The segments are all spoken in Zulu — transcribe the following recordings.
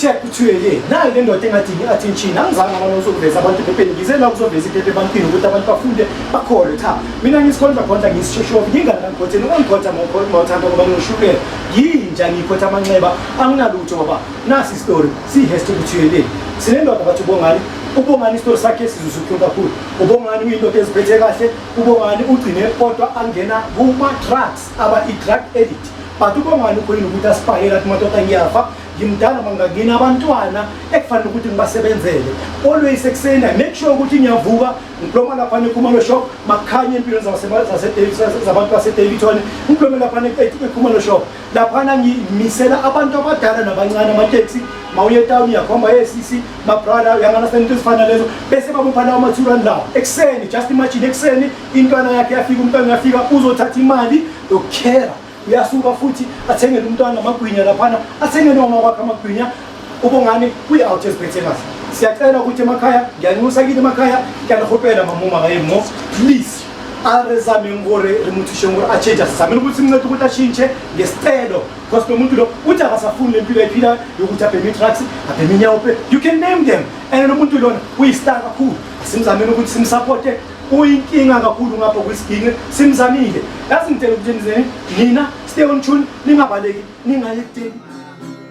check kuthiwe ke nayo le ndoda engathi ngi-attention angizange abana uzokuveza abantu ephepheni ngize la kuzoveza iphephe ebantwini ukuthi abantu bafunde bakholwe cha mina ngisikhonza khonza ngisishoshovu nginganangikhotheni ungangikhotha mawuthanda ngoba ngishulela yinja ngikhotha amanxeba anginalutho ngoba nasi isitori siyi-hest kuthiwe le sinendoda bathi ubongani ubongani isitolo sakhe sizuzuhle kakhulu ubongani uyindoda eziphethe kahle ubongani ugcine kodwa angena kuma-trucks aba i-drug edit but ubongani ukhonile ukuthi asipahela athi madoda ngiyafa ngimdala mangangini abantwana ekufanele ukuthi ngibasebenzele always ekuseni make sure ukuthi ngiyavuka ngiploma laphana ekhumalo shop makukhanye empilweni zabantu basedavidson ngiplome laphana ekhumalo shop laphana ngimisela abantu abadala nabancane amateksi mawuye etawuni uyakhomba yesisi mabrada uyanganasana into ezifana lezo bese bamupha lawo mathurani lawo ekuseni just imagine ekuseni intwana yakhe yafika umntwana uyafika uzothatha imali yokukhera uyasuka futhi athengele umntwana amagwinya laphana athengele uma kwakhe amagwinya ubongani kwi-out esibethekazi siyacela ukuthi emakhaya ngiyanxusa kini emakhaya ngiyanihopela mamuma kaye mo please arezameni kore rimuthishe ngore achange asizamele ukuthi mnceda ukuthi ashintshe ngesicelo because lo muntu lo uthi akasafuni le mpilo ayiphila yokuthi abheme i-trucks abheme inyawupe you can name them and lo muntu lona uyistar kakhulu simzamele ukuthi simsapothe uyinkinga kakhulu ngapha kwisigini simzamile yazi ngitshela ukuthi nina stay on tune ningabaleki ningayekuteki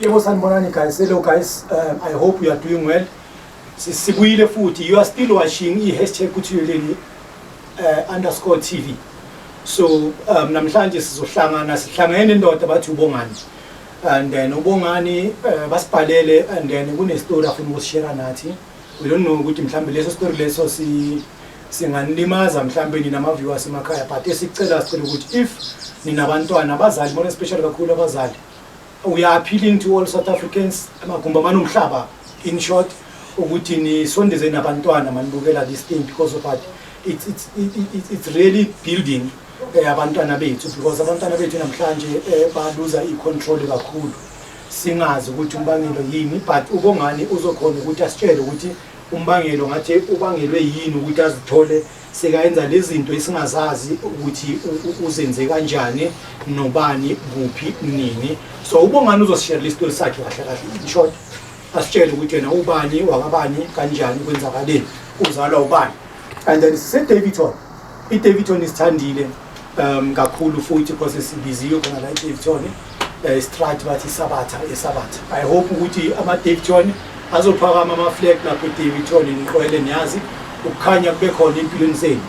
Yebo sanibonani guys. Hello guys. Um, I hope you are doing well. Sibuyile futhi. You are still watching i-hashtag kuthiyeleni uh, underscore TV. So um, namhlanje sizohlangana sihlangene nendoda bathi ubongani. And then ubongani uh, basibhalele and then kunestory afuna ukusishare nathi. we don't know ukuthi mhlawumbe leso story leso si singanilimaza mhlawumbe nina ama-viewers emakhaya but esicela sicela ukuthi if nina bantwana abazali bona especially kakhulu abazali we are appealing to all south africans amagumbi amanomhlaba in short ukuthi nisondeze nabantwana manibukela this thing because of what it's, it's, it's, it's really building eh, abantwana bethu because abantwana bethu namhlanje eh, baluza i-control kakhulu singazi ukuthi umbangelo yini but ubongani uzokhona ukuthi asitshele ukuthi umbangelo ngathi ubangelwe yini ukuthi azithole sekayenza lezinto esingazazi ukuthi uzenze kanjani nobani kuphi nini so ubongani uzosishela lesitoli sakhe kahle kahle in short asitshele ukuthi yena ubani wakabani kanjani kwenzakaleni uzalwa ubani and then sisedavidton idavidton isithandile um kakhulu futhi because sibiziwe khona la edavton eh, istrat bathi isabatha esabatha i hope ukuthi amadavton azophakama amaflag lapho edavton niqwele niyazi ukukhanya kube khona empilweni zenu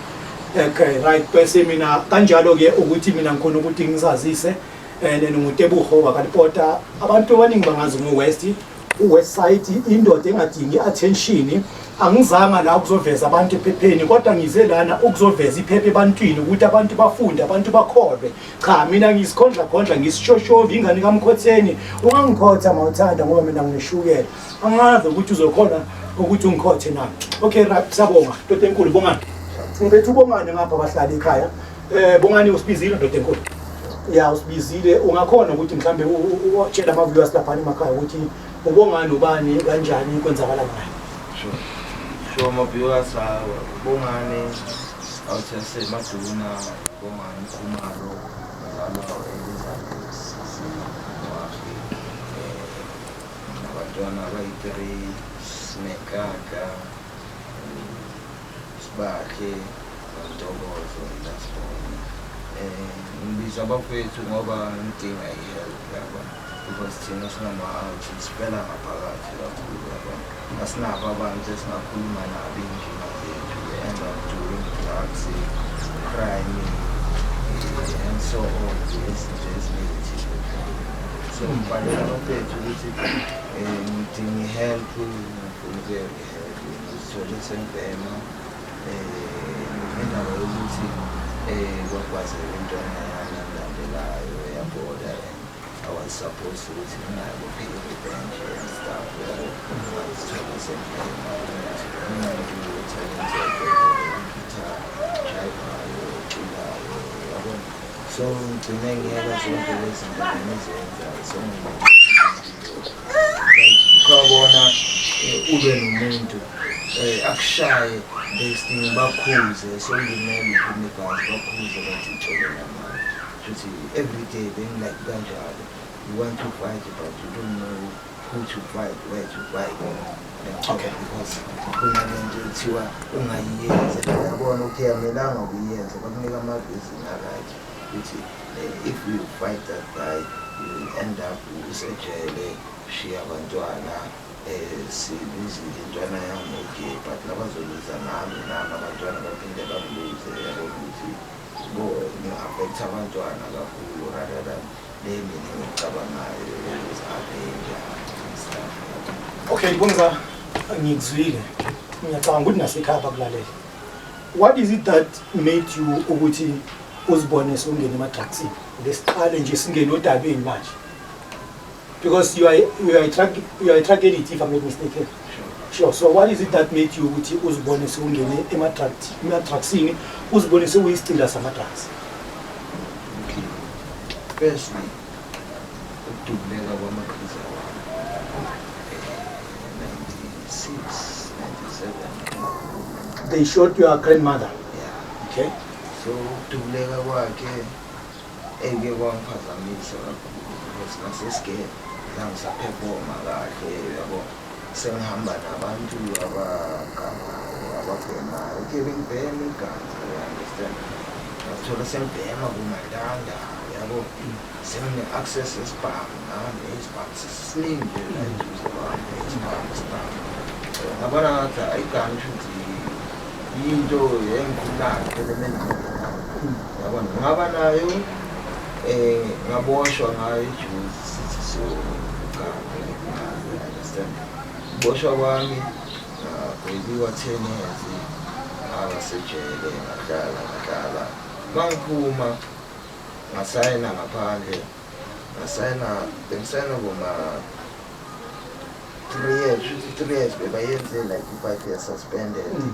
okay right bese mina kanjalo-ke ukuthi mina ngikhona ukuthi ngisazise and ngingutebuho wakalipota abantu abaningi bangazi ngo-west uwebsite indoda engadingi attention angizanga la ukuzoveza abantu ephepheni kodwa ngize lana ukuzoveza iphepha ebantwini ukuthi abantu bafunde abantu bakholwe cha mina ngisikhondla khondla ngisishoshovi ingane kamkhotheni ungangikhotha mawuthanda ngoba mina ngishukela angazi ukuthi uzokhona ukuthi ungikhothe na okay right sabonga ntoto enkulu bongani ngibethu bongane ngapha bahlala ekhaya Eh bongani usibizile ndoda enkulu. Ya usibizile ungakhona ukuthi mhlambe utshela ama viewers lapha emakhaya ukuthi ubongani ubani kanjani kwenzakala ngayo. Sure. Sure ama viewers awu bongani awuthense maduna bongani kumaro nalapho abantwana abayi-three sinekaka Sibakhe Ntokozo Ndasibona um ngibiza abafowethu ngoba ngidinga i-help yaba because thina singama-out sifela ngaphakathi kakhulu yaba asinabo abantu esingakhuluma nabo iy'nkinga zethu enza during drugs crime eh, and so on izinto ezinegative so ngibhalela abafowethu ukuthi um ngidinga i-help ngifuna ukuyeke Ngizithole sengibhema um indaba yokuthi um kwakwazeka intwana yami engilandelayo yaboda I was supposed ukuthi nginayo kuphika ibhenje and stuff yabo ngizithole sengibhema umntu uthalentekekitha drivayo oculayo yabo so ngigcine ngiyeka zonke lezi zinto bengizenza so ukabona eh, ube nomuntu eh, akushaye besting bakhuze solimele uphumekazi bakhuze bathi ucelela manje futhi every day bengilike kanjalo you want to fight but you don't know who to fight where to fight okay because khona lento ekuthiwa ungayiyenza yabona ukuthi amelanga ukuyenza bakunika amabhizinisi akanje ukuthi If you fight that guy, you will end up usejele, shiya abantwana eh sibizile intwana yami okay but labazoluza nami nami abantwana baphinde bangiluze yabo ukuthi bo ngi-affect abantwana kakhulu rather than le mina engicabangayo ukuzi-avenger stuff okay bonza ngikuzwile ngiyacabanga ukuthi nasekhaya bakulalele What is it that made you ukuthi uzibone sewungena emadrugsini? Ngesiqale nje singene odabeni manje. Because you are you are a drug you are a drug addict if I'm not mistaken. Sure. So what is it that made you ukuthi uzibone sewungene emadrugs emadrugsini uzibone sewuyisicila samadrugs? Firstly, ukudubuleka kwamaqhiza wami 96 they shot your grandmother yeah. okay so ukudubuleka kwakhe eke kwangiphazamisa kakhulu because ngasesigele zangisaphefoma kahle yabo Sengihamba nabantu abagamayo, ababhemayo. Uthe bengibhema igama, you understand? Ngazithola sengibhema kumandanda, yabo? Sengine-access yesibhamu nami, isibhamu sisiningi nje la eduze kwami, isibhamu, isibhamu. Ngabona ngathi hhayi kanti ukuthi yinto engikhulayo phela emeningini yami. Yabona, ngaba nayo, um ngaboshwa ngayo ijuzi. sithi siyocabha understand boshwa kwami ngagwebiwa ten years abasejele ngadlala ngadlala mangiphuma ngasayina ngaphandle ngasayina bengisayina koma three years three years bebayenze like ifive years suspended mm.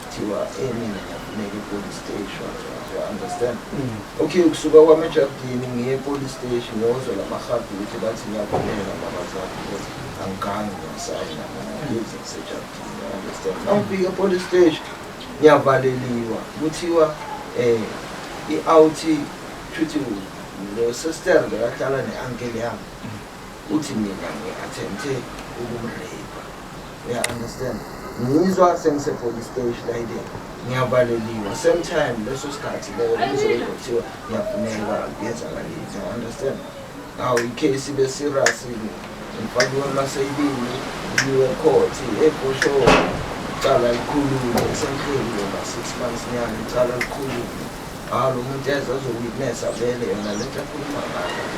kuthiwa eh mina ngiyafuneka epolice station you understand mm. okay kusuka kwami ejardini ngiye epolice station ngiyozwa la mahabi ukuthi bathi ngiyakhuleka babazali ukuthi angigangi ngiyasayina ngiyize ngisejardini you understand nangifika epolice station ngiyavaleliwa kuthiwa um i-out shuthi lo sister bekahlala ne-ankele yami mm. uthi mina ngi-attempte ukumreyipha Yeah, I understand. Ngizwa sengise police station like that. Ngiyavaleliwa. Same time leso sikhathi leyo ngizobe kuthiwa ngiyafuneka ngezakalile. You understand? Now icase ibe serious ngifakiwe emaseyibini ngiwe court ebhosho cala likhulule esenhleli ngoma six months nyana icala likhulule Hawu lo muntu yazi wazowitnessa vele yona le nto akhuluma ngayo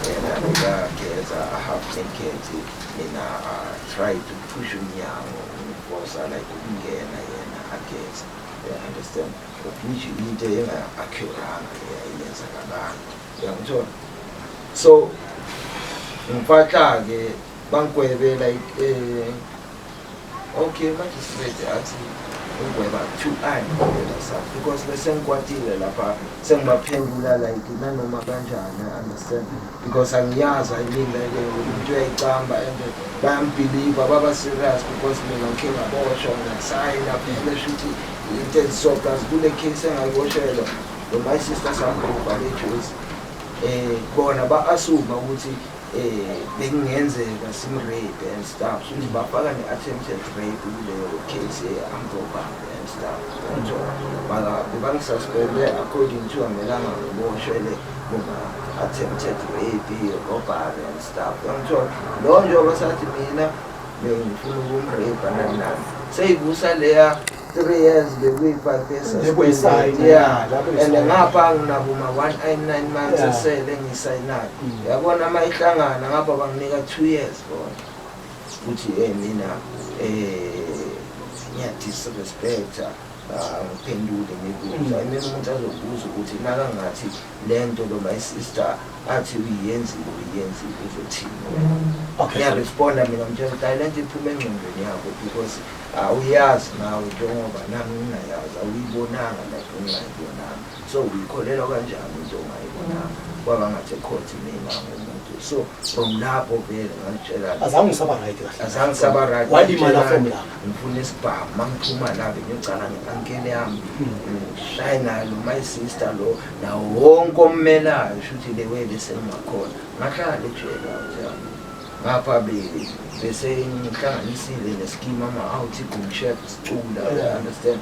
yena bekageza ahaf enkhethi mina try to push umnyango umfosa like ukungena yena ageza you understand which into enga-acuranga eyenzakalanga uyangithola so ngiphatha-ke bangikwebela eh, Okay, magistrate athi ugweba two eye ngempela sa because bese ngikwatile lapha sengibaphendula like nanoma kanjani I understand because angiyazi I mean like umuntu uyayicamba and bayambhiliva baba serious because mina ngikhe ngaboshwa ngasayina vele shuthi into eziso plus kule case engayiboshelwa lo my sister sangibhubha le juice eh bona ba-asuma ukuthi eh bekungenzeka simrape and stuff futhi bafaka ne-attempted rape kuleyo case ye-ambrobambe and stuff nto maka bebangisasipende according to amelanga ngiboshele bona attempted rape robbery and stuff yangithola loyo njengoba sathi mina bengifuna ukumrape nanani seyivusa leya three years bekuyi-five years Bekuyisayini, yeah. yeah, lapho and isayini. ngapha nginabuma one i nine months Yeah. esele ngisayinayo Mm. yabona uma ihlangana ngapha banginika two years bona futhi um mina um ngiyadisrespecta ah, ngiphendule ngikuza Mm. imele umuntu azobuza ukuthi nakangathi lento lo my sister athi uyenzile uyenzile uzothini okay ngiyaresponda mina ngitshela ukuthi hayi lento iphuma engqondweni yakho because awuyazi nawe njengoba nami ngingayazi awuyibonanga like ungayibonanga so uyikholelwa kanjani into ongayibonanga kwaba ngathi ekhothi mina ngomuntu so from lapho vele ngangitshela azange ngisaba right kahle azange ngisaba right walimala from lapho ngifuna isibhamu uma ngiphuma la bengigcana nge-ankele yami ngishaye nayo lo my sister lo nawo wonke ommelayo shuthi le way bese ngingakhona ngahlala ejele yami ngapha bese ngihlanganisile nesikimu ama-out igumshep sicula understand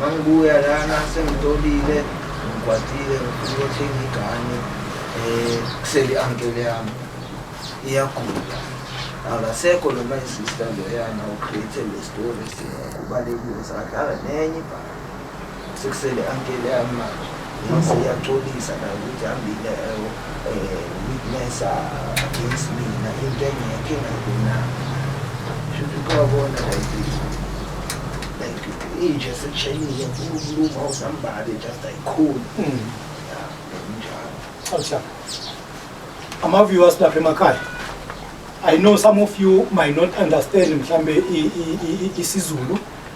mangibuya lana sengitolile ngikwatile ngifuna ukuthenga igane um kusele i-ankele yami iyagula akasekho noma isister loyana ucreate le story siyakubalekile sadlala nenye ibhaka sekusele ankele yami manje mase iyaxolisa nayo ukuthi hambile witnessa against mina into engekho engayibonanga shuthi kwabona like like inje sekushenile kuluma usambale just ayikhulu njalo ama-viewers lapha emakhaya i know some of you might not understand mhlambe isizulu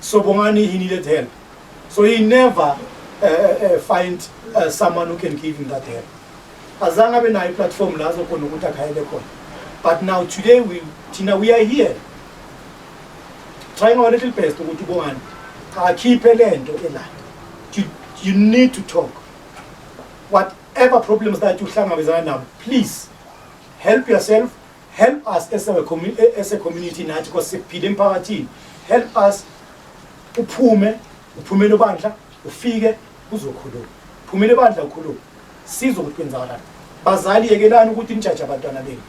So Bongani, he needed help. So he never uh, uh, find uh, someone who can give him that help. Azange abe nayo platform la azokhona ukuthi akhayele khona. But now today we Tina we are here trying our little best ukuthi Bongani akhiphe lento ela. You, you need to talk. Whatever problems that you hlangabezana nabo, please help yourself help us as a community as a community nathi because sikuphila emphakathini help us uphume uphumele bandla ufike uzokhuluma phumele bandla ukhuluma sizo ukuthi kwenzakalani bazali yekelani ukuthi nijaje abantwana benu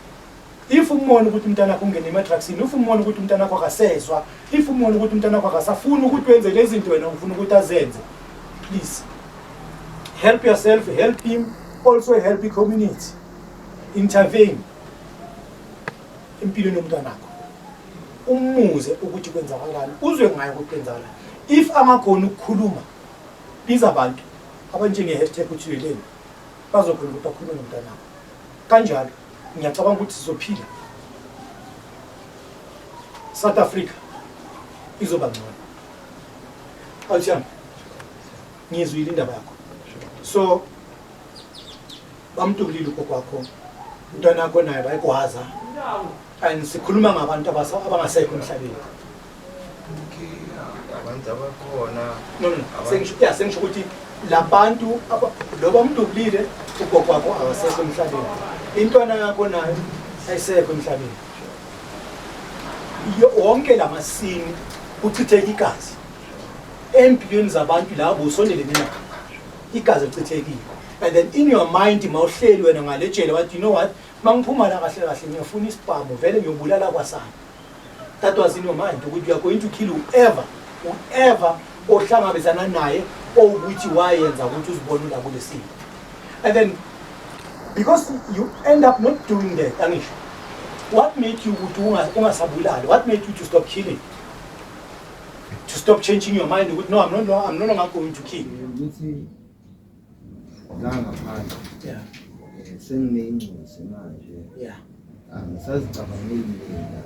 if umona ukuthi umntana wakho ungene emadrugsini if umona ukuthi umntana wakho akasezwa if umona ukuthi umntana wakho akasafuni ukuthi wenze lezi zinto wena ufuna ukuthi azenze please help yourself help him also help the community intervene empilweni yomntwanakho umuze ukuthi kwenzakalani uzwe ngayo ukuthi kwenzakala if amakhona ukukhuluma biza abantu abanjenge-hashtag uthuleleni bazokhona ukuthi bakhulume nomntanakho kanjalo ngiyacabanga ukuthi sizophila south africa izoba ngcono awuthiyami ngizwile indaba yakho so bamtolile ugogo wakho umntwana yakho naye bayigwaza and sikhuluma ngabantu abangasekho emhlabeni abantu abakhona no no sengisho ya sengisho ukuthi labantu loba umdubulile ugogo wakho akasekho emhlabeni intwana yakho nayo ayisekho emhlabeni wonke lamasini kuchitheka igazi empilweni zabantu labo usondelene nabo igazi lichithekile and then in your mind mawuhleli wena ngalejele wathi you know what mangiphuma la kahle kahle ngiyofuna isibhamu vele ngiyobulala kwasana that was in your mind ukuthi you are going to kill whoever whoever ohlangabezana naye owukuthi wayenza ukuthi uzibone ula kule simo and then because you end up not doing that angisho what made you ukuthi ungasabulali what made you to stop killing to stop changing your mind ukuthi no I'm no no I'm no longer going to kill ukuthi la ngaphandle yeah eh, senginengcisi manje yeah angisazicabangeli mina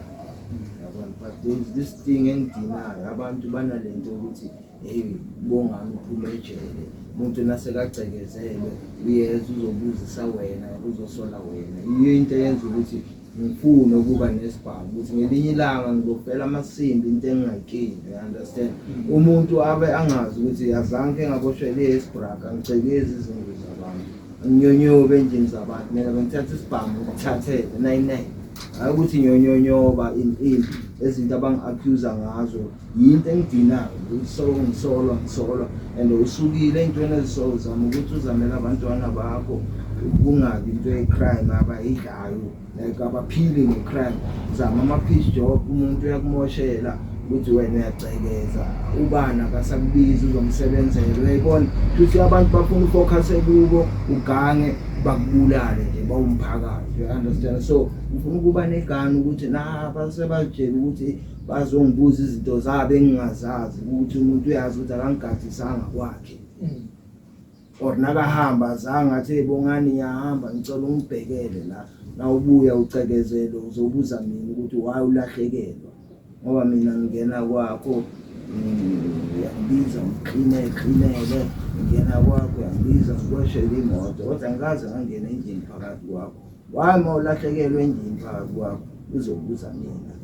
yabona but there's this thing engidinayo abantu banalento ukuthi hey bonga ngiphume ejele umuntu nasekagcekezelwe uyeza uzobuzisa wena uzosola wena yiyo into eyenza ukuthi ngifune ukuba nesibhamu ukuthi ngelinye ilanga ngizofela amasimbi into engingayikini you understand mm. umuntu abe angazi ukuthi azange engaboshele esibraka ngicekezi izinto zabantu nginyonyobe endlini zabantu mina bengithatha isibhamu ngithathele nine-nine hayi ukuthi nyonyonyoba in in ezinto abangi-accusa ngazo yinto engidinayo ngisolwa ngisolwa ngisolwa and usukile ey'ntweni ezisolo zama ukuthi uzamele abantwana bakho kungabi into ye-crime abayidlayo like abaphili nge-crime zama ama-peace job umuntu uyakumoshela ukuthi wena uyacekeza ubani akasakubizi uzomsebenzela uyayibona futhi abantu bafuna ufokhase kubo ugange bakubulale nje bawumphakathi you understand so ufuna ukuba negani ukuthi na basebatshela ukuthi bazongibuza izinto zabo engingazazi ukuthi umuntu uyazi ukuthi akangigadisanga kwakhe mm. or nakahamba azange athi ebongani yahamba ngicela ungibhekele la nawubuya ucekezelo uzobuza mina ukuthi waye ulahlekelwa ngoba mina ngingena kwakho uyangibiza ngixine xinele ngingena kwakho uyangibiza ngikweshele imoto kodwa ngikaze ngangena endlini phakathi kwakho why uma ulahlekelwe endlini phakathi kwakho uzobuza mina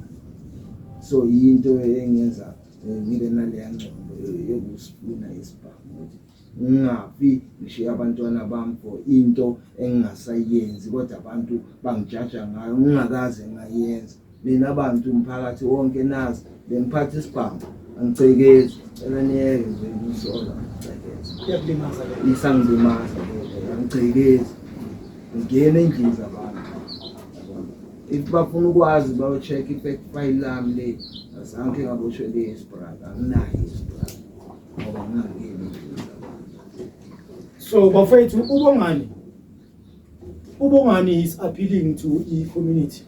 so yinto engenza eh, ngibe naleya ngcondo yokusifuna isibhamu ukuthi ngingafi ngishiye abantwana bami for into engingasayenzi kodwa abantu bangijaja ngayo ngingakaze ngayenza Nina bantu mphakathi wonke nazi bengiphatha isibhamu angicekezi cela niyeke nje ngisola angicekezi kuyakulimaza le isangidumaza angicekezi ngingena endlini zabantu if bafuna ukwazi bayocheck i-fact file lami le azange ngaboshwe le isbraka anginayo isbraka ngoba ngingangeni endlini zabantu so bafethu ubongani ubongani is appealing to i-community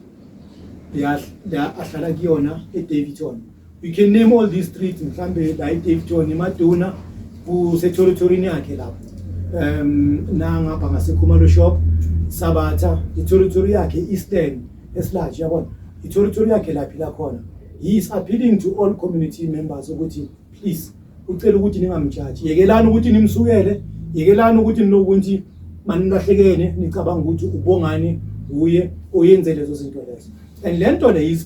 la ahlala kuyona edavidton you can name all these streets mhlawumbe la edavidton emaduna kusethorithorini yakhe lapho um nangapha ngasekhumalo shop sabatha ithorithori yakhe i-eastern esilaji yabona ithorithori yakhe laphi lakhona he is appealing to all community members ukuthi please ucela ukuthi ningamjaji yekelani ukuthi nimsukele yekelani ukuthi ninokuthi manilahlekene nicabanga ukuthi ubongani uye oyenze lezo zinto lezo and le nto le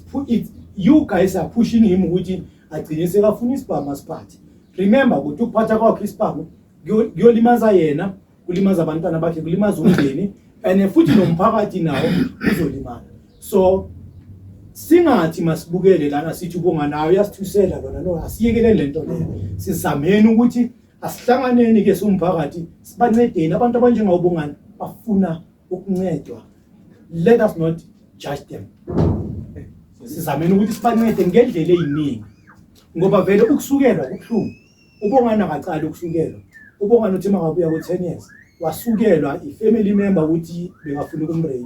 you guys are pushing him ukuthi agcine sekafuna isibhamu asiphathe remember ukuthi ukuphatha kwakhe isibhamu kuyolimaza yena kulimaza abantwana bakhe kulimaza umndeni and futhi nomphakathi nawo uzolimala so singathi masibukele lana sithi ubonga nayo yasithusela lona no asiyekeleni lento leyo sizameni ukuthi asihlanganeni ke somphakathi sibancedeni abantu abanjengawubongani bafuna ukuncedwa let us not judge them sizameni ukuthi sibancede ngendlela eyiningi ngoba vele ukusukelwa kubuhlungu UBongani akaqali ukusukelwa. UBongani uthe mangabuya ku-10 years wasukelwa i-family member ukuthi bekafuna ukumrape.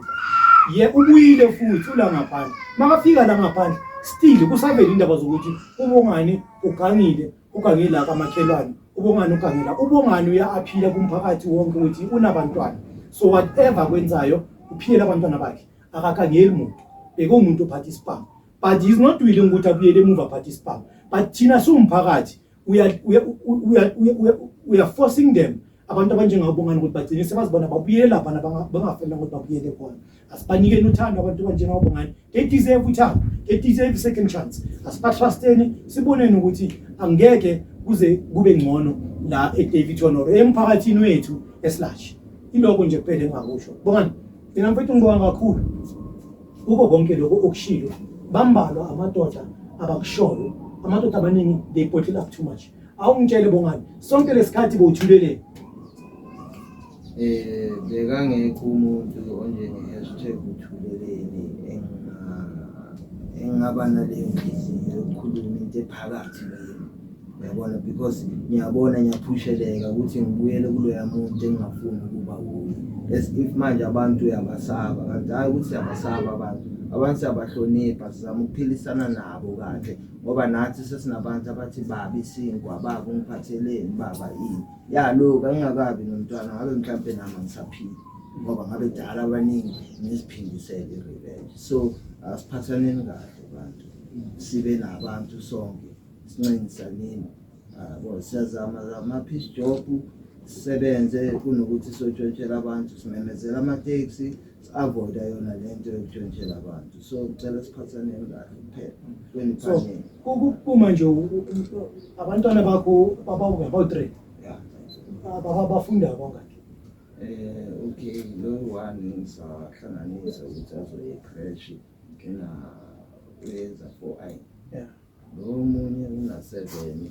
Ye ubuyile futhi ula ngaphandle. Makafika la ngaphandle still kusavela indaba zokuthi uBongani ugangile, ugange la kamakhelwane. UBongani ugange la. UBongani uya-aphila kumphakathi wonke ukuthi unabantwana. So whatever akwenzayo uphiyela abantwana bakhe. Akakangeli muntu. Bekuwumuntu ophatha isibhamu. but he's not willing ukuthi abuyele emuva participant but thina siwumphakathi we are we are, we are, we are, we are forcing them abantu abanjengabo bongani ukuthi bagcine sebazibona babuyele lapha bangafanele ukuthi babuyele khona asibanikeni uthando abantu abanjengabo bongani they deserve uthando they deserve second chance asibatrusteni siboneni ukuthi angeke kuze kube ngcono la eDavid Honor emphakathini wethu esilashi iloko nje kuphele engakusho bongani mina mfethu ngibonga kakhulu Kuko konke lokho okushilo bambalwa amadoda abakushoyo amadoda amaningi they bottle up too much awungitshele bongani sonke lesikhathi bowuthuleleni eh bekangekho umuntu onjenge hashtag uthuleleni engingaba naleyo nkinga yokukhuluma into ephakathi Uyabona because ngiyabona ngiyaphusheleka ukuthi ngibuyele kuloya muntu engingafuni ukuba kuye. As if manje abantu uyabasaba kanti hhayi ukuthi siyabasaba abantu. Abantu siyabahlonipha sizama ukuphilisana nabo kahle ngoba nathi sesinabantu abathi baba isinkwa baba ungiphatheleni baba ini. Ya loku angingakabi nomntwana ngabe mhlampe nami angisaphili ngoba ngabe dala abaningi ngiziphindisele i-revenge. So asiphathaneni kahle bantu sibe nabantu sonke. sinxenisa nini yabo ah, siyazama zama peace job sisebenze kunokuthi sotshontshela abantu simemezela amateksi si-avoida yona le nto yokutshontshela abantu so ngicela siphathaneni kahle kuphela kwenipaneli kuma nje abantwana bakho babawuyabawu-three bafunda bangaki um okay lo one ngisahlanganisa ukuthi azoye crash kena uyenza four i Lo omunye unaseveni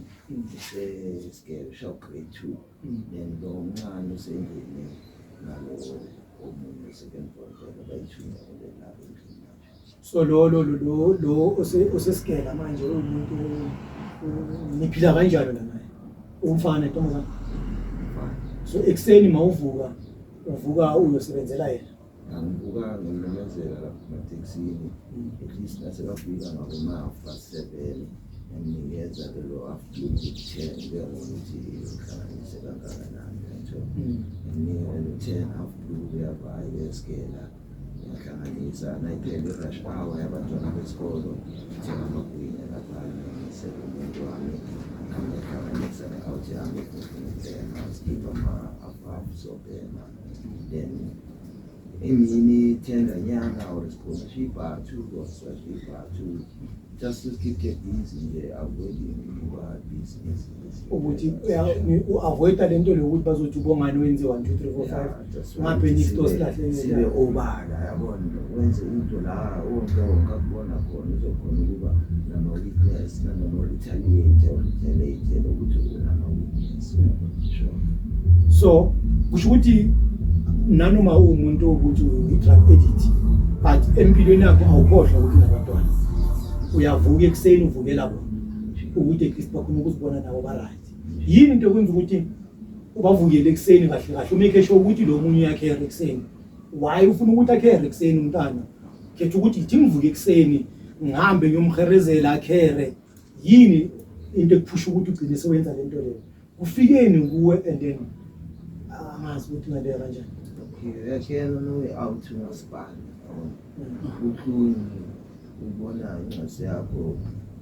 usesigebe ushawu grade two then lo omncane usengene nalo omunye second born vele bayithunga kule labo endlini manje so lo lo lo lo lo ose- osesigela manje uwumuntu u- u- niphila kanjalo la naye umfana intombazana mfana so ekuseni mawuvuka uvuka uyosebenzela yena Ngangibukanga ngimemezela lapho ematekisini at least nasebafika ngabomafa seven nginikeza ke lo afternoon ten ngiyabona ukuthi uhlanganise kangakanani lento nginika wena ten afternoon uyava ayeskela ngiyahlanganisa nayiphela i-rush hour yabantwana besikolo ngithenga amagwinya lapha ngisele umuntu wami ngiyahlanganisa ne-out yami ngifuna ukubhema sikhipha ama-afafu sobhema then emini thenga nyanga or sikhona shibhathu or sashibhathu just to keep the busy nje avoid ukuba busy ukuthi u-avoida le nto leyo ukuthi bazothi ubongani wenze one two three four five ngaphe nifto silahlekele sibe obala yabona wenze into la onke onke akubona khona Uzokhona ukuba nama-witness nanoma retaliate or retaliate lokuthi unama-witness uyabonishwa so kusho ukuthi nanoma uwumuntu ukuthi uyi-drug edit but empilweni yakho awukhohlwa ukuthi nabantwana uyavuka ekuseni uvukela bona ukuthi at least bakhona ukuzibona nabo ba-right yini into ekwenza ukuthi ubavukele ekuseni kahle kahle umekhe sho ukuthi lo munye uyakhera ekuseni why ufuna ukuthi akhere ekuseni umntana khetha ukuthi yithi ngivuke ekuseni ngihambe ngiyomherezela akhere yini into ekuphusha ukuthi ugcine sewenza le nto leyo kufikeni kuwe and then angazi ukuthi ngaleya kanjani okay yena nowe out umasipala Ubuhlungu ubona incase yakho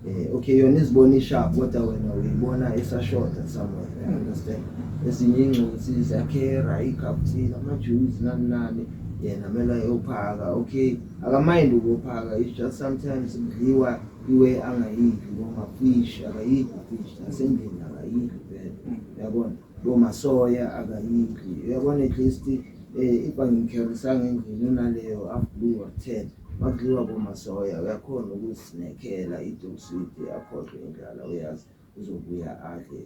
eh okay yona izibona isharp kodwa wena uyibona isashota somewhere I understand ezinye ingcosi zakhera ikaptini amajuice nani nani yena mele ayophaka okay akamind ukuphaka it's just sometimes kudliwa iwe angayidli noma fish akayidli fish nasendlini akayidli vele yabona bomasoya akayidli uyabona at least Eh ibangikherisanga endlini unaleyo after wathela makudliwa komasoya uyakhona ukusinekela idosidi akhohlwe indlala uyazi uzobuya adle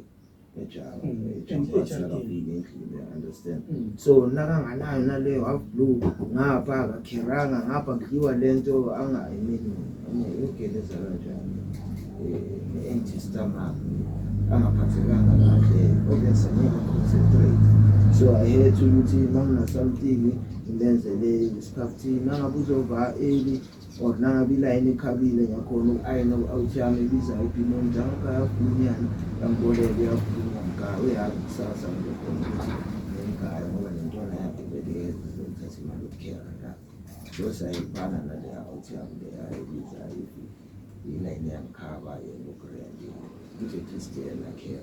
ejaka ejampasakafile endlini understand mm. so nakanganayo naleyo half blue ngapha akakheranga ngapha kudliwa le nto angayi mina yogeleza kanjani Anti-stomach angaphathekanga kahle obese ngeke concentrate so i had to ukuthi uma ngina something ngilenzele isikhathini nangabe uzova early or nangabe ilayini ikhabile ngakhona uku-ayina u-out yami ibiza ibhimoni njangakha yavunyana yangiboleka uyavunyana mka uyazi kusasa ngikhona ukuthi ngengaya ngoba nentwana yakhe beliyeza zokuthatha imali yokukhera la so sayibana naleya out yami leya ibiza Yena yena yamkhaba yena uGrand. Nje Christian akhe.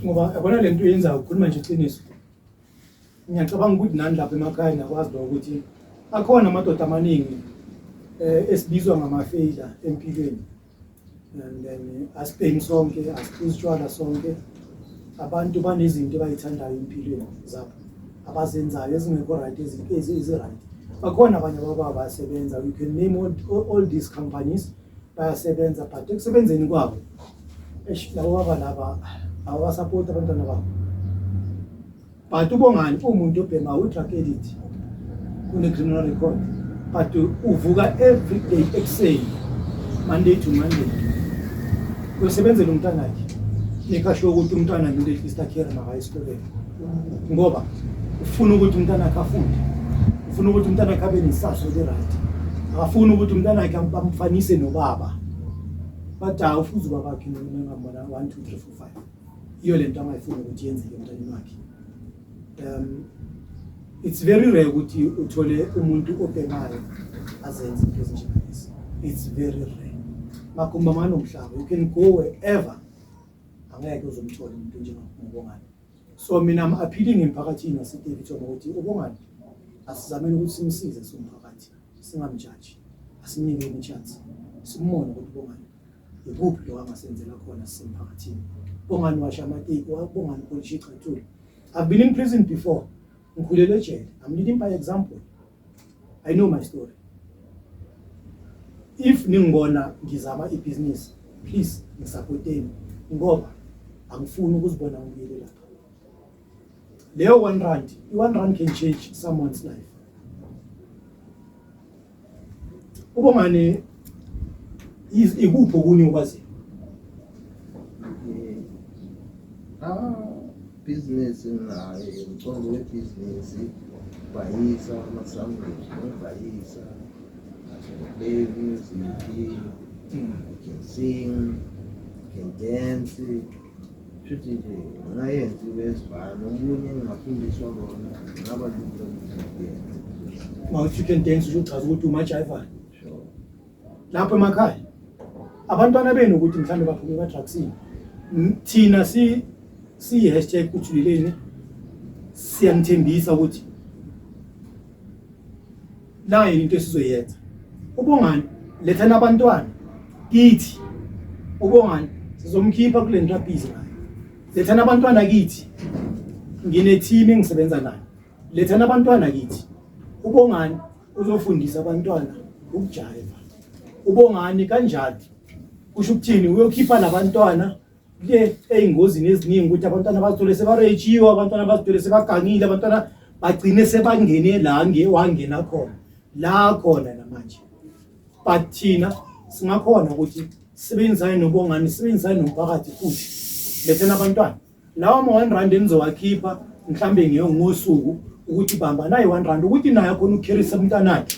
Ngoba yabona le nto yenza ukhuluma nje iqiniso. Ngiyacabanga ukuthi nani lapha emakhaya niyakwazi lo ukuthi akhona amadoda amaningi eh esibizwa ngamafeyila empilweni. and then asibheki sonke asiphuzi utshwala sonke abantu banezinto abayithandayo empilweni zabo abazenzayo ezingekho right ezi-right bakhona abanye ababa bayasebenza you can name all, all, all these companies bayasebenza but ekusebenzeni kwabo labo baba laba abasapoti abantwana babo but ubongani umuntu obhema udrug edit kune-criminal record but uvuka every day ekuseni monday to monday uyosebenzela umntanakhe nekhasho yokuthi umntwana ngile istakhere makaye esikoleni ngoba ufuna ukuthi umntanakhe afunde ufuna ukuthi umntanakhe abe nesaso elirayithi akafuni ukuthi umntanakhe bamfanise nobaba but awufuzi ubabakhe ngamona one two three four five yiyo le nto angayifuni ukuthi yenzeke emntaneni wakhe um it's very rare ukuthi uthole umuntu obhemayo azenze into ezinjengalezi it's very rare makumba mani umhlaba you can go wherever angeke uzomthola umuntu njengobongani so mina am appealing emphakathini wasedevitona ukuthi ubongani asizameni ukuthi simsize somphakathi singamjaji asimnike imichance simbone ukuthi ubongani ikuphi lo angasenzela khona sisemphakathini bongani washa amateki wabongani polish igxathule i've been in prison before ngikhulele ejele i'm leading by example i know my story if ningibona ngizama ibhizinisi please ngisapoteni ngoba angifuni ukuzibona ngibuyele lapha leyo one rand i-one rand can change someone's life ubongane ikuphi okunye okwaziyo bhizinisi naye umcondo webhizinisi bhayisa amasangweni nobhayisa play music can sing can dance Shuthi nje ngayenzi bezibhalo omunye engafundiswa kona ngaba lula ukuyenza. Uma uthi you can dance usho uchaza ukuthi umajayivayo. Sure. Lapho emakhaya abantwana benu ukuthi mhlawumbe baphume emadrugsini. M- Thina si si hashtag uthuleleni siyanithembisa ukuthi nayo into esizoyenza ubongani lethela abantwana kithi ubongani sizomkhipha kule nto abhizi nayo lethela abantwana kithi nginethimi engisebenza nayo lethela abantwana kithi ubongani uzofundisa abantwana ukujayiva ubongani kanjalo kusho ukuthini uyokhipha labantwana kuye ey'ngozini eziningi ukuthi abantwana bazithole sebaretshiwe abantwana bazithole sebagangile abantwana bagcine sebangene la nge wangena khona la khona namanje but thina singakhona ukuthi sibenzane nobongani sibenzane nomphakathi futhi lethena abantwana lawa ma-one rand enizowakhipha mhlawumbe ngiyo ngosuku ukuthi bamba naye one rand ukuthi naye akhona ukukherisa umntanakhe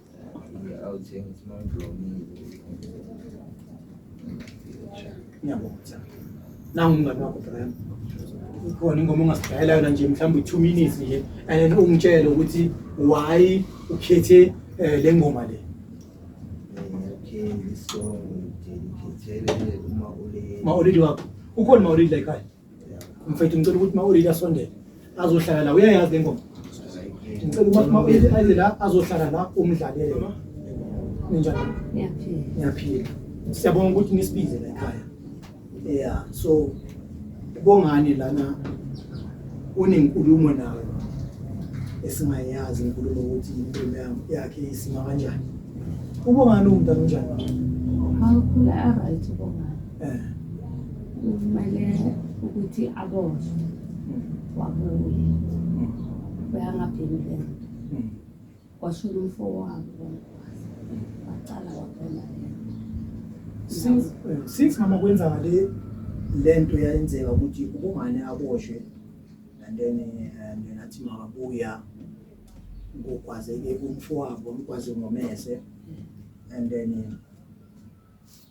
ngiyabonga nangu umngane wakho brem ikhona ingoma ongasidayela yona nje mhlawumbe i-two minutes nje and then ungitshele ukuthi why ukhethe um le ngoma le maulidi wakho ukhona maulidi la ekhaya mfethu ngicela ukuthi uma ulile asondele azohlala la uyayazi le ngoma ngicela ukuthi uma ulile aze la azohlala la umdlalele ninjani ngiyaphila siyabonga ukuthi nisibize la ekhaya yeah so bongani lana unenkulumo nawe esingayazi inkulumo ukuthi impilo yami yakhe isima kanjani ubongani umntana unjani hawu khula a right ubongani ukubaleka ukuthi aboshwe wabuye beyangapheli le nto kwashona umfo wabo wacala waphela since eh, since mama kwenzaka le lento yayenzeka ukuthi ubungane aboshwe and then eh, and then athi makabuya ngogwazeke umfo wabo ngigwaze ngomese and then eh,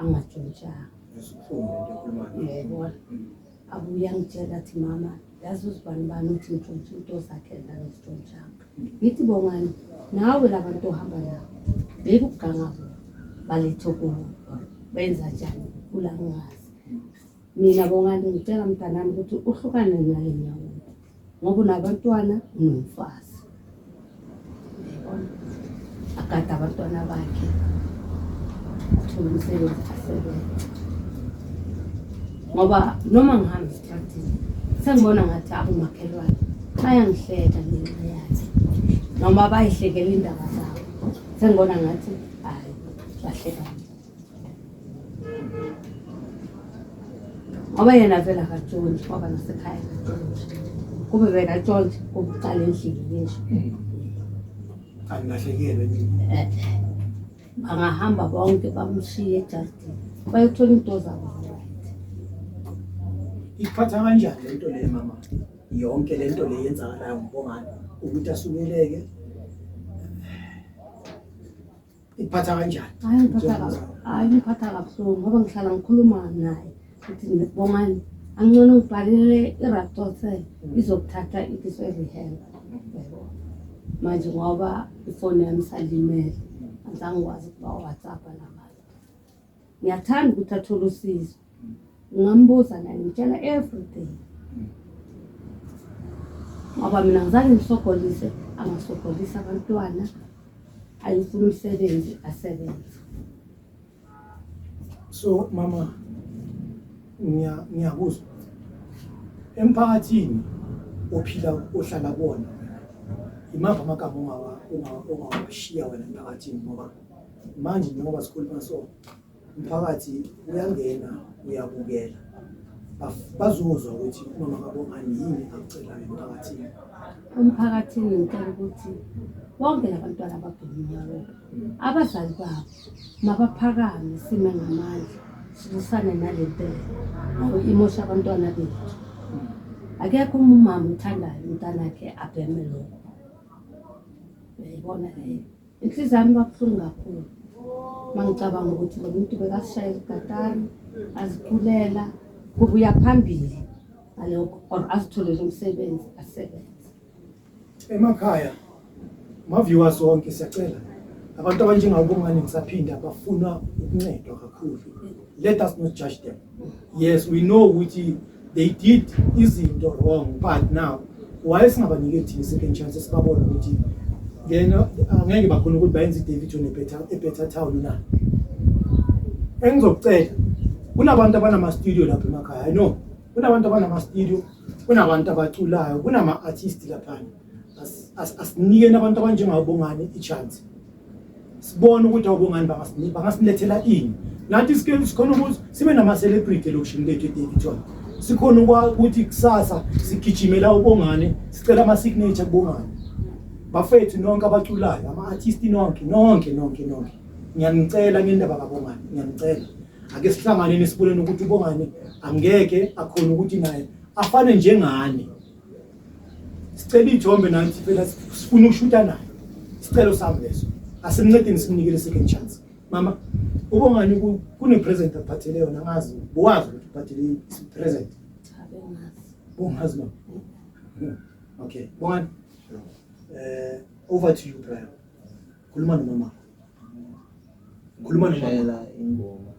angatshontshanga abuye angitshela athi mama yazi uzibani bani uthi ngitshontshe into zakhe ndangizitshontshanga ngithi bongani nawe la bantu ohamba nabo beka ukuganga kubo balethe kubo benza njani kula ngazi Mina Bongani ngicela mntanami ukuthi uhlukane nale nyawo ngoba unabantwana unomfazi agade abantwana bakhe athole umsebenzi asebenze ngoba noma ngihamba esitratini sengibona ngathi abomakhelwane bayangihleka ngenxa yakhe noma bayihlekela indaba zabo sengibona ngathi hayi bahleka ngoba yena vele akatshonti waba nasekhaya kube bekatshonti kubucala endlini ngisho hmm. angilahlekelwe eh, eh. bangahamba bonke bamshiye ejardini bayothola into zabo ikuphatha kanjani lento le mama yonke lento le yenzakalayo ngibongani ukuthi asukeleke ikuphatha kanjani hayi ngiphatha kabi hayi ngiphatha kabuhlungu ngoba ngihlala ngikhuluma naye ukuthi bongani angcono ngibhalele iraptote izokuthatha ikiso erehab manje ngoba ifoni yami isalimele angizange ngikwazi ukuba whatsapp namanje ngiyathanda ukuthi athole usizo ngambuza naye ngitshela everything ngoba mina ngizange ngisogolise angasogolisa abantwana ayifuna umsebenzi asebenze so mama ngiyakuzwa emphakathini ophila ohlala kuwona imava amagama ongawashiya wena emphakathini ngoba manje njengoba sikhuluma so umphakathi uyangena uyabukela bazozwa ukuthi umama kabongani yini akucelayo emphakathini umphakathini ngicela ukuthi bonke labantwana ababheminyalo abazali babo mabaphakame sime ngamandla silusane nale ntela ngoba imosha abantwana bethu akekho uma umama uthandayo umntanakhe abheme lokho uyayibona leyo Inhliziyo yami kwabuhlungu kakhulu uma ngicabanga ukuthi lo muntu bekasishaya izigatari aziculela kubuya phambili ngalokho or azitholele umsebenzi asebenze emakhaya maviewers wonke siyacela abantu abanjengabo bongani ngisaphinde abafuna ukuncedwa kakhulu let us not judge them yes we know ukuthi they did izinto wrong but now why singabanike thina second chance sibabona ukuthi then uh, angeke bakhona ukuthi bayenze iDavid ne better e better town na engizocela kunabantu abanama studio lapha emakhaya i know kunabantu abanama studio kunabantu abaculayo kunama artist lapha asinikeni abantu abanjengabongani ichance sibone ukuthi abongani bangasilethela ini nathi sikhona ukuthi sibe nama-celebrity elokishini lethu edavidson sikhona ukuthi kusasa sigijimela ubongane sicela ama-signature kubongane bafethu nonke abaculayo ama-artisti nonke nonke nonke nonke ngiyanicela ngendaba kabongane ngiyanicela ake sihlanganeni siboneni ukuthi ubongane angeke akhona ukuthi naye afane njengani sicela ijombe nanti phela sifuna ukushuta naye sicelo sami leso asimncedeni simnikele second chance mama ubongani kune-present aphathele yona ngazi bowazi ukuthi uphathele i-present bongazi mama hmm. okay bongani um over to you brian khuluma nomama khuluma nomama ingoma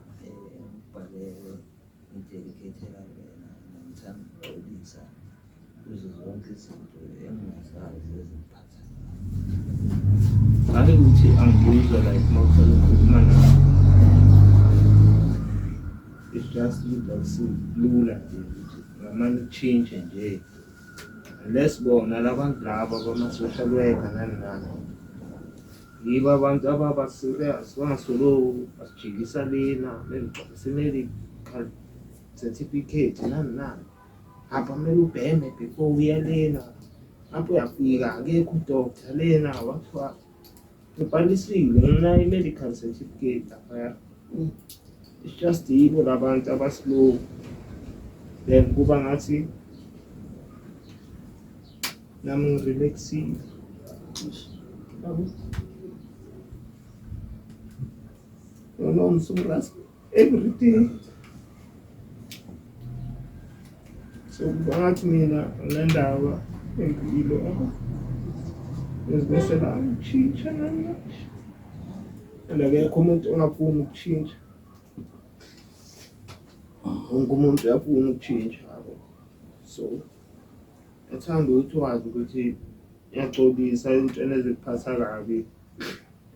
Ngidedicate-la wena ngithanda ukuxolisa kuzo zonke izinto engingazazi ezingiphatha ngabe ngithi angibuyizwa like uma uhlale ukhuluma nayo it's just ukuthi akusilula nje ukuthi ngamane utshintshe nje unless bona labantu laba bama-social worker nani nani Yibo abantu ababa serious bangasolo basijikisa lena lengixoxa simele certificate nani nani hamba kumele ubheme before uya lena lapho uyafika akekho udokta lena wathiwa ubhalisile ngenayo i-medical certificate laphaya it's just yibo labantu abaslow then kuba ngathi Nami ngirelaxile. Babu. No, no, ngisukuras every day. So ngathi mina le ndaba engiyilo ngizimisela ukushintsha nami. And akekho umuntu ongafuni ukushintsha. Wonke umuntu uyafuna ukushintsha. So Ngithanda ukuthi wazi ukuthi ngiyaxolisa ezintweni ezikuphatha kabi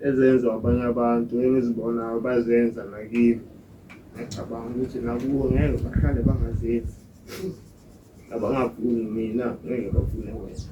ezenziwa abanye abantu engizibonayo bazenza nakimi. Ngiyacabanga ukuthi nakubo ngeke bahlale bangazenzi. Abangafuni mina ngeke bafune wena.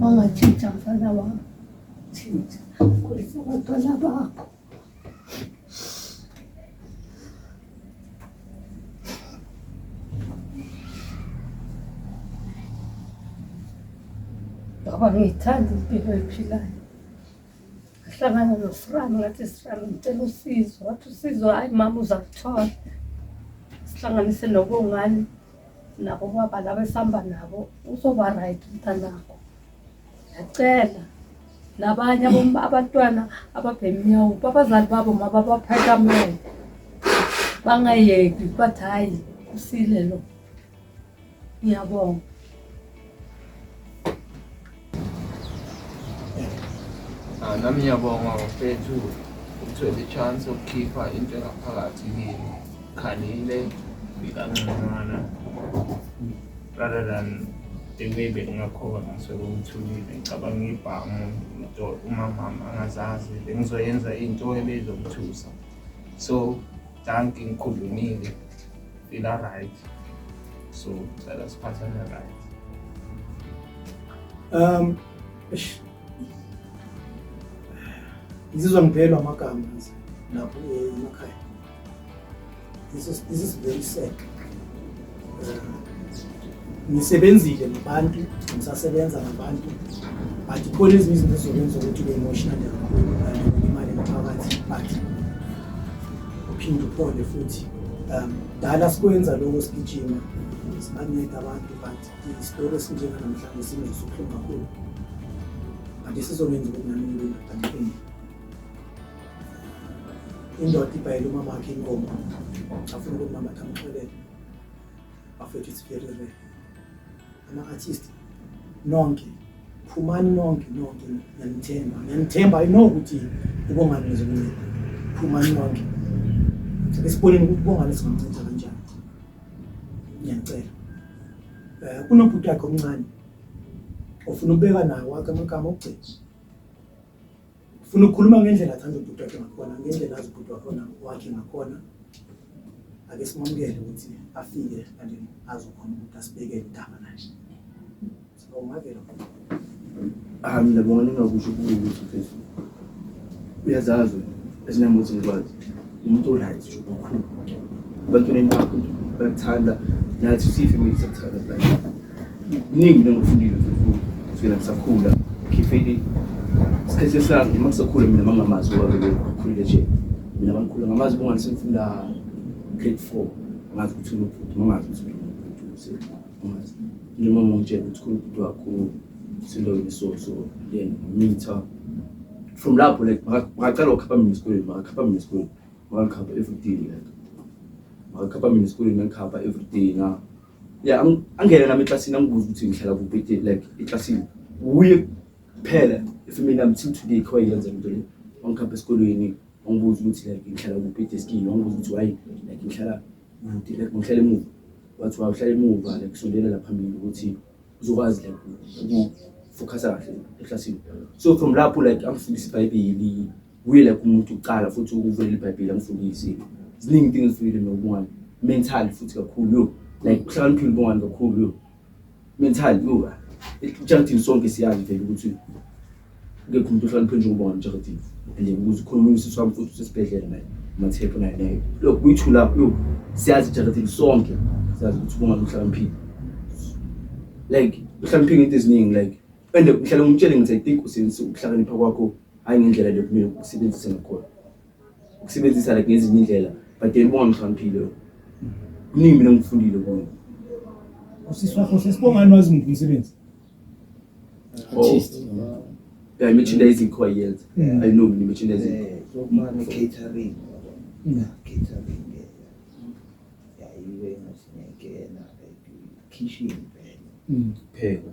Wangatshintsha mfana wami, tshintsha khulisa abantwana bakho. Baba ngiyithanda impilo ephilayo. Ngahlangana noSirani ngathi Sirani ngicela usizo, wathi usizo hhayi mama uza kuthola. Sihlanganise nobongani nabo baba laba esihamba nabo uzoba right umntanakho. Ngiyacela nabanye abom- abantwana ababhemnyawo babazali babo mababaphakamele bangayeki bathi hhayi usile lo. Ngiyabonga. Ah, nami ngiyabonga mfethu ukuthola i-chance yokukhipha into engaphakathi kini khalile ngikangconywana rather than the way bekungakhona sekuthulile ngicabanga ibhamu into umamama angazazi bengizoyenza into ebezomthusa so Danki ngikhulumile. Fila right. So cela siphathane right. Um eish. Ngizizwa ngiphelwa amagama nje lapho eh, emakhaya. This is this is very sad. ngisebenzile ngabantu ngisasebenza ngabantu but khona ezinye izinto ezokwenza ukuthi ube emotional kakhulu imali ngaphakathi but uphinde uphole futhi um dala sikwenza lokho sigijima sibanceda abantu but isitori esinjenganamhlanje singeso ubuhlungu kakhulu but isizokwenza ukuthi nami ngibe nadancini indoda ibhayela umamakhe inkomo afuna ukuthi mama thamxolele bafethu it's very rare ama-artist nonke phumani nonke nonke ngiyanithemba ngiyanithemba i know ukuthi ubongani nizomnceda phumani nonke esiboneni ukuthi ubongani singamnceda kanjani ngiyanicela um eh, kunobhuti wakhe omncane ofuna ukubeka naye wakhe amagama okugcina Funa ukukhuluma ngendlela athanda ubhuti wakhe ngakhona, ngendlela azi ubhuti wakhona wakhe ngakhona. Ake simamukele ukuthi afike kanti azokhona ukuthi asibeke igama naye. Sibongavela. Ah, mina bonga ningakusho kuwe ukuthi uphezulu. Uyazazi ezinambuthi ngikwazi. umuntu right nje omkhulu ebantwaneni bakho bayakuthanda nathi siyifamily siyakuthanda like kuningi into engifundile kusukela ngisakhula khifeli isikhathi esange uma ngisakhula mina mangamazi wabeke khulile nje mina bangikhula ngamazi bonga ngisengifunda grade four ngazi ukuthi unobhuti mangazi ukuthi unobhuti noma ngitshela ukuthi kuwumuntu wakho sinto ngiso so then ngitha from lapho like makaqala ukukhapha mina esikolweni makakhapha mina esikolweni makakhapha everyday like makakhapha mina esikolweni ngikhapha everyday na ya angena nami eklasini angibuza ukuthi ngihlala kuphi day like eklasini wuye kuphela efamily yami till today kho yenza into le wangikhapha esikolweni wangibuza ukuthi like ngihlala kuphi day skin wangibuza ukuthi why like ngihlala Bhuti like ngihlale emuva. Wathi wawuhlale emuva like kusondelela phambili ukuthi uzokwazi like ukufocusa kahle eklasini. So from lapho like angifundisa iBhayibheli. Uye like umuntu uqala futhi ukuvela iBhayibheli angifundise. Ziningi into engizifundile nobungani. Mental futhi kakhulu yo. Like uhlakaniphile ubungani kakhulu yo. Mental yura. Ijaridini sonke siyazi vele ukuthi ngekho umuntu ohloniphe njengoba wamjaridini. And ukuthi khona umuntu sisi wami futhi usesibhedlela naye mathepho naye naye. Look kuyithula yo siyazi ijaridini sonke siyazi ukuthi kungabe uhloniphile. Like uhloniphe into eziningi like and ngihlale ngimtshele ngithi I think usenze ukuhlakanipha kwakho hayi ngendlela lekumele ukusebenzise ngakhona. ukusebenzisa like ngezinye indlela but then bonga mhlawumphile kuningi mina ngifundile kuyo usisi wakho sesibongani wazi muphi umsebenzi artist yeah oh. merchandising kho yenza i know mina merchandising eh, so manje catering yeah catering yeah iwe ngasinekena like kitchen phela mm. phela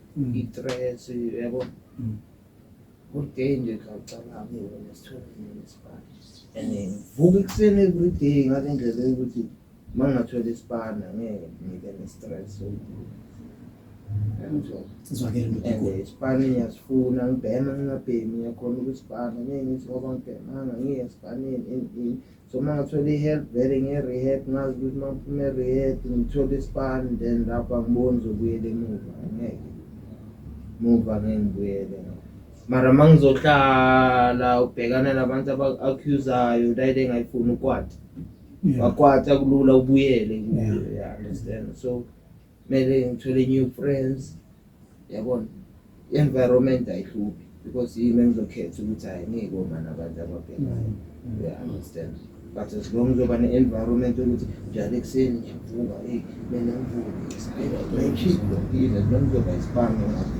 Mm. i-threats yabo mm. good day nje khawucabange wena sithole nini isibani and ngivuka ekuseni every day ngale ndlela yokuthi uma ngingathwela isibani angeke ngibe ne-stress isibani ngiyasifuna ngibhema ngingabhemi ngiyakhona ukusibhana ngeke ngithi ngoba ngibhemanga ngiye esibaneni so uma ngithola i-help vele nge-rehab ngazi ukuthi uma ngiphuma e-rehab ngithole ispan then lapho angiboni zokuyela emuva ngeke muva ngeke ngibuyele mara uma ngizohlala ubhekana nabantu aba-accusayo layile engayifuni ukwata wakwata kulula ubuyele kuyo yeah understand so Mele ngithole new friends. Yabona? Environment ayihluphi because yimi engizokhetha ukuthi hayi ngeke uma nabantu ababhekayo. Mm. Yeah, understand. But as long uzoba ne-environment yokuthi njalo ekuseni ngiyavuka, hey, mina ngivuke. Hayi, ngiyaphila, as long uzoba isibanga ngathi.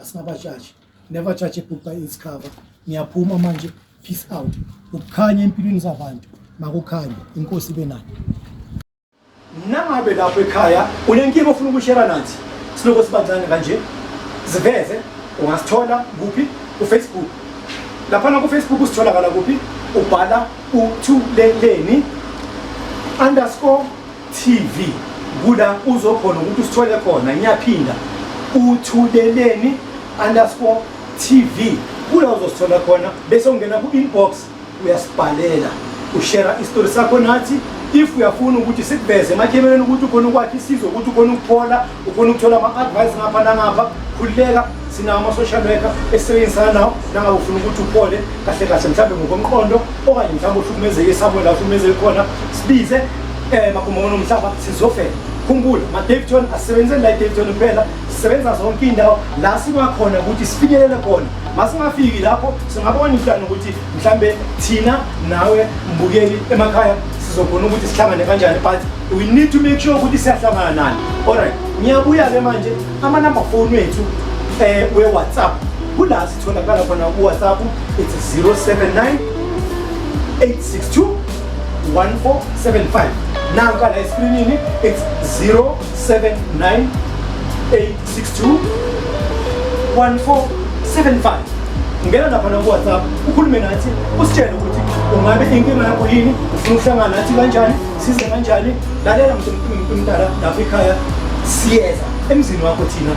asingabajaji never judge a book by its cover ngiyaphuma manje peace out ukukhanya empilweni zabantu makukhanye inkosi ibe nani nangabe lapho ekhaya unenkinga ofuna ukushera nathi siloko sibancane kanje ziveze ungasithola kuphi kufacebook laphana kufacebook usitholakala kuphi ubhala uthuleleni underscore TV kuda uzokhona ukuthi usithole khona ngiyaphinda uthuleleni underscore TV kula uzosithola khona bese ungena ku-inbox uyasibhalela ushera isitori sakho nathi if uyafuna ukuthi sikuveze emakhemeleni ukuthi ukhona ukwakha isizwe ukuthi ukhona ukuphola ufuna ukuthola ama-advice ngapha nangapha khululeka sinawo ama-social worker esisebenzisana nawo nangabe ufuna ukuthi uphole kahle kahle mhlawumbe ngokomqondo okanye mhlawumbe uhlukumezeke esabo la uhlukumezeke khona sibize um eh, magumono mhlaba sizofela khumbula ma-davton asisebenzeli la i-davton kuphela sisebenza zonke iy'ndawo la sibakhona ukuthi sifinyelele khona masingafiki lapho singabona umhlane ukuthi mhlambe thina nawe mbukeli emakhaya sizokhona ukuthi sihlangane kanjani but We need to make sure ukuthi siyahlangana nani. Alright, ngiyabuya ke manje ama number phone wethu eh we WhatsApp. Kula sitholakala khona ku WhatsApp it's 079 862 1475. Nanka la screenini it's 079 862 1475. Ngena lapha na ku WhatsApp ukhulume nathi usitshele ukuthi ungabe inkinga yakho yini ufuna ukuhlangana nathi kanjani size kanjani lalela mntumdala lapha ekhaya siyeza emzini wakho thina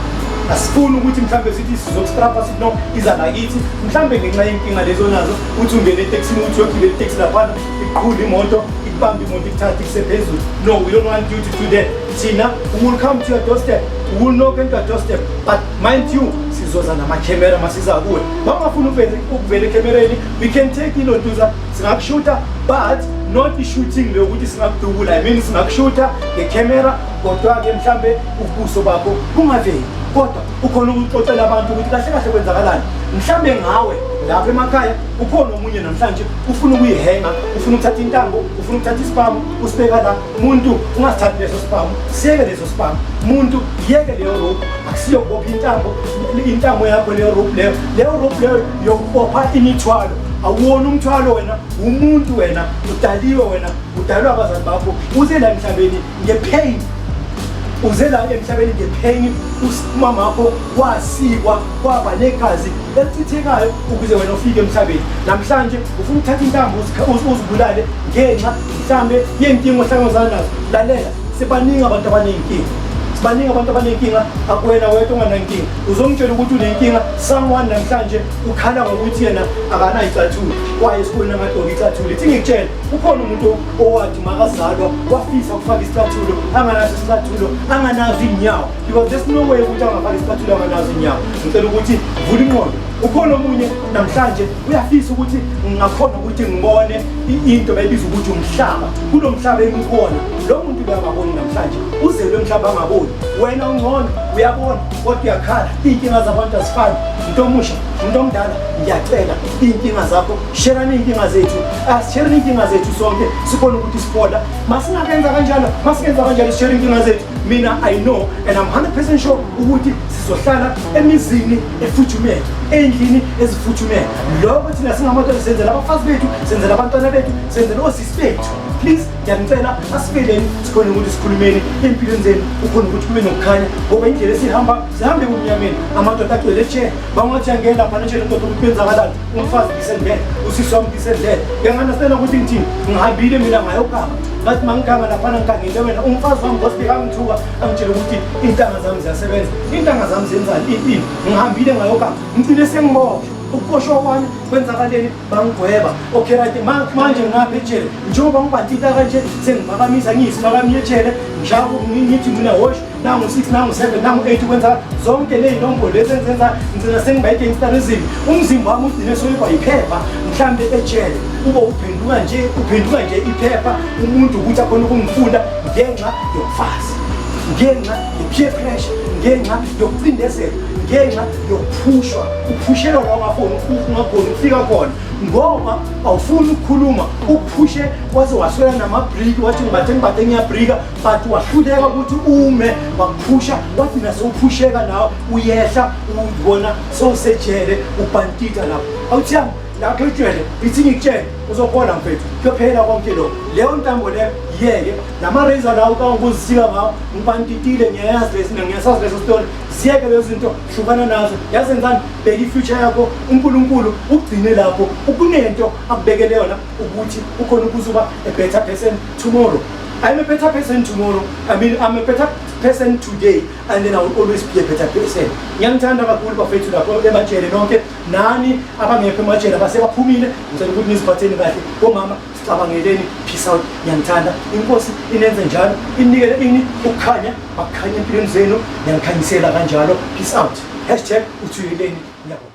asifuni ukuthi mhlawumbe sithi sizokustrapha sithi no iza nakithi mhlawumbe ngenxa yenkinga lezo nazo uthi ungene etekisini ukuthi uyogibela iteksi laphana iqhule imoto ikubambe imoto ikuthathe kusephezulu no we don't want you to do that thina we will come to your doorstep we will knock into your doorstep but mind you sizoza namakhemera masiza kuwe bangafuni ukuvela ekhemereni we can take ilontuza singakushuta but not i-shooting leyo ukuthi singakudubula i mean singakushuta ngecamera kodwa-ke mhlawumbe ubuso bakho bungaveli kodwa ukhona ukuxoxela abantu ukuthi kahle kahle kwenzakalani mhlawumbe ngawe lapha emakhaya ukhona omunye namhlanje ufuna ukuyihenga ufuna ukuthatha intambo ufuna ukuthatha isipamu usibeka la muntu ungasithathi leso sipamu siyeke leso sipamu muntu yeke leyo rope akusiyokubopha intambo intambo yakho leyo rope leyo leyo rope leyo yokubopha imithwalo awuwona umthwalo wena umuntu wena udaliwe wena udalwe abazali bakho uze la emhlabeni ngepain uze la emhlabeni ngepain umama wakho wasikwa kwaba negazi elichithekayo ukuze wena ufike emhlabeni namhlanje ufuna ukuthatha intambo uzibulale ngenxa mhlambe yenkinga ohlangabezana nazo lalela sibaningi abantu abaneyinkinga baningi abantu abanenkinga akuwena wedwa onganankinga uzongitshela ukuthi unenkinga someone namhlanje ukhala ngokuthi yena akanayo icathula kwaye esikoleni amadoka icathula ithi ngikutshela ukhona umuntu owathi makazalwa wafisa ukufaka isicathulo anganaso isicathulo anganazo iy'nyawo because there's no way ukuthi angafaka isicathulo anganazo iy'nyawo ngicela ukuthi vula inqondo ukhona omunye namhlanje uyafisa ukuthi ngakhona ukuthi ngibone into bayibiza ukuthi umhlaba kulo mhlaba engikhona lo muntu uyangaboni namhlanje uzelwe mhlaba angaboni wena ungcono uyabona kodwa uyakhala iy'nkinga zabantu azifani umuntu omusha umuntu omdala ngiyacela iy'nkinga zakho sherani iy'nkinga zethu asishereni ah, iy'nkinga zethu sonke sikhona ukuthi sibola masingakenza kanjalo masikenza kanjalo sishere iy'nkinga zethu mina i know and i'm 100 percent sure ukuthi sizohlala emizini efuthumele ey'ndlini ezifuthumele lokho thina singamadoda senzela abafazi bethu senzela abantwana bethu senzela osisi bethu please ngiyanicela asiveleni sikhona ukuthi sikhulumeni empilweni zenu ukhona ukuthi kube nokukhanya ngoba indlela esihamba sihambe kumnyameni amadoda agcwele tshe bangathi angena lapha nitshele ndoda ukuthi benzakalani umfazi ngisendlela usisi wami ngisendlela ngiyanganasela ukuthi ngithini ngihambile mina ngayogama ngathi mangiganga laphana ngigangile wena umfazi wami ngosibika ngithuka angitshele ukuthi iy'ntanga zami ziyasebenza iy'ntanga zami zenzani iyini ngihambile ngayogama ngigcine sengiboshwa ukuboshwa kwami kwenzakaleni bangigweba okay right manje ngapha ejele njengoba ngibathinta kanje sengiphakamisa ngiyisiphakamiye ejele ngihlaba ngithi mina wash nangu six nangu seven nangu eight ukwenza zonke ley'nombolo lezi engizenza ngigcina sengiba i-gangstarism umzimba wami ugcine soyibwa yiphepha mhlawumbe ejele kube uphenduka nje uphenduka nje iphepha umuntu ukuthi akhona ukungifunda ngenxa yomfazi ngenxa peer pressure ngenxa yokucindezelwa ngenxa yokuphushwa uphushelwa la ungafuni ungakhoni ukufika khona ngoba awufuni ukukhuluma uphushe waze waswela namabriki wathi ngibathe ngibathe ngiyabrika but wahluleka ukuthi ume wakuphusha wathi nasewuphusheka nawe uyehla ubona sowusejele ubhantita lapho awuthiyami lapho ijwele ithi ngikutshele uzobona mfethu kuyophela konke lokho leyo ntambo leyo yeke lama razor lawo ka ukuzisika ngawo ngibantitile ngiyayazi lesi ngiyasazi leso story ziyeke lezo zinto hlukana nazo yazi ngani bheka ifuture yakho uNkulunkulu ugcine lapho ukunento akubekele yona ukuthi ukhona ukuzuba a better person tomorrow I'm a better person tomorrow. I mean, I'm a better person today, and then I will always be a better person. Ngiyangithanda kakhulu bafethu lapho ebatshele nonke nani abangekho emajele abasebaphumile ngicela ukuthi niziphatheni kahle komama sicabangeleni peace out ngiyanithanda inkosi inenze njalo inikele ini ukukhanya bakukhanya empilweni zenu ngiyangikhanyisela kanjalo peace out hashtag uthuyeleni ngiyabonga